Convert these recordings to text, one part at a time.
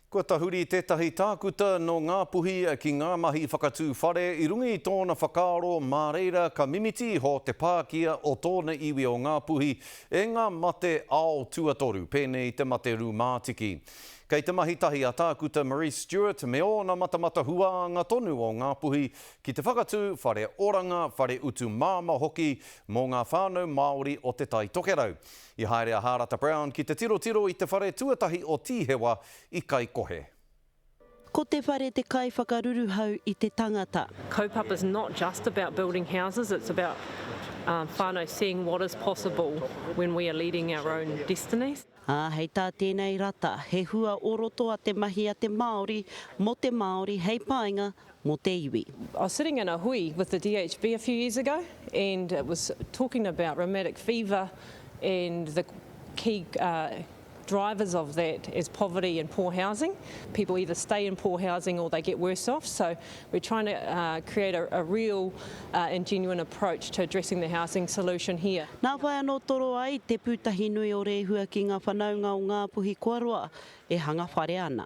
Kua tahuri tētahi tākuta nō Ngāpuhi ki ngā mahi whakatū whare i runga i tōna whakaaro mā reira ka mimiti iho te pākia o tōna iwi o Ngāpuhi e ngā mate ao tuatoru, pēnei i te mate rūmātiki. Kei te mahi tahi a Tākuta Marise Stewart me ōna matamata huānga tonu o Ngāpuhi ki te whakatū whare oranga, whare utu māmā hoki mō ngā whānau Māori o Te Tai Tokerau. I haere a Hārata Brown ki te tirotiro i te whare tuatahi o Tīhewa i Kaikohe. Ko te whare te kaiwhakaruruhau i te tangata. Kaupapa is not just about building houses, it's about whānau seeing what is possible when we are leading our own destinies. Ā, hei tā tēnei rata, he hua o roto a te mahi a te Māori mō te Māori hei painga mō te iwi. I was sitting in a hui with the DHB a few years ago and it was talking about rheumatic fever and the key drivers of that is poverty and poor housing. People either stay in poor housing or they get worse off so we're trying to create a real and genuine approach to addressing the housing solution here. Nā whai anō toro ai Te Pūtahi Nui o Rēhua ki ngā whanaunga o Ngāpuhi kua roa e hanga whare ana.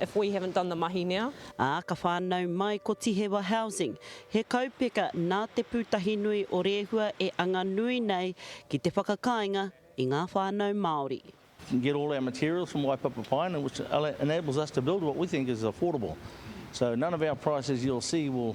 if we haven't done the mahi now. Ā, ka whānau mai ko Tihewa Housing, he kaupeka nā Te Pūtahinui o Rēhua e anga nui nei ki te whakakāinga i ngā whānau Māori. get all our materials from Waipapa Pine which enables us to build what we think is affordable. So none of our prices you'll see will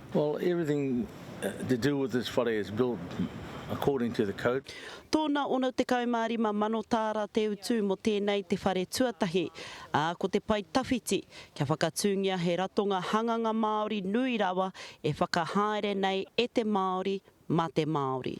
Tōna 65 mano tāra te utu mō tēnei te whare tuatahi, ā, ko te pae tawhiti, kia whakatūngia he ratonga hanganga Māori nui rawa e whakahaere nei e te Māori, mā te Māori.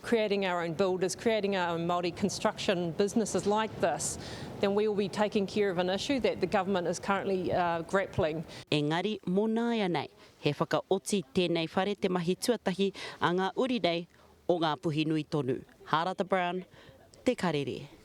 creating our own builders, creating our own Māori construction businesses like this, then we will be taking care of an issue that the government is currently grappling. Engari, mō nāianei, He whakaoti tēnei whare te mahi tuatahi a ngā uri nei o Ngāpuhi nui tonu. Hārata Brown, Te Karere.